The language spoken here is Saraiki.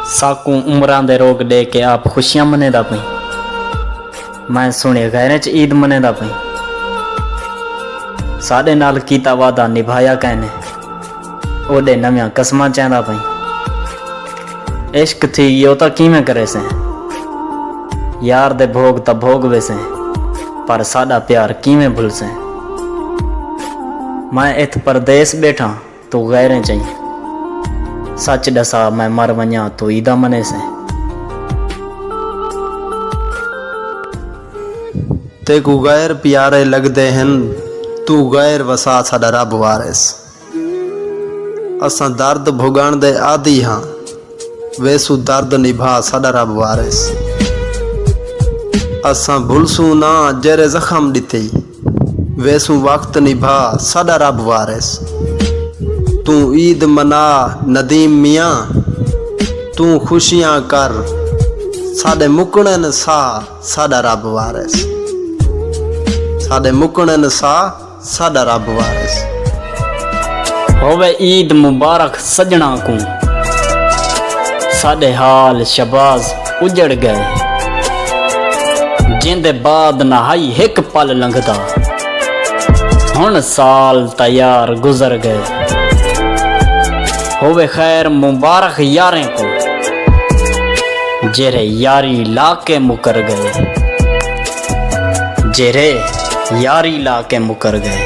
ساکوں عمراں دے روگ ڈے کے آپ خوشیاں منیندا پئیں میں سنڑے غیریں چ عید منیندا پئیں ساڈے نال کیتا وعدہ نبھایا کینے اوڈے نویاں قسماں چیندا پئیں عشق تھی گیو تاں کیویں کریسیں یار دے بھوگ تاں بھوگ ویسیں پر ساڈا پیار کیویں بھلسیں میں اتھ پردیس بیٹھاں توں غیریں چئیں سچ ڈسا میں مر ونجاں توں ایدا منیسیں۔ تیکوں غیر پیارے لگدے ہن توں غیر وسا ساڈا رب وارث اساں درد بھگن دے عادی ہاں ویسوں درد نبھا ساڈا رب وارث اساں بھلسوں نہ جیرھے زخم ڈتے۔ ویسوں وقت نبھا ساڈا رب وارث توں عید منا ندیم میاں توں خوشیاں کر ساڈے مکنن ساہ ساڈا رب وارث ساڈے مکنن ساہ ساڈا رب وارث۔ ہووے عید مبارک سجنڑاں کوں ساڈے حال شہباز اجڑ گئے جیندے بعد نہ ہئی ہک پل لنگھدا ہن سال تاں یار گزر گئے ہووے خیر مبارخ یاریں کوں جیرھے یاری لا کے مکر گئے جیرھے یاری لا کے مکر گئے۔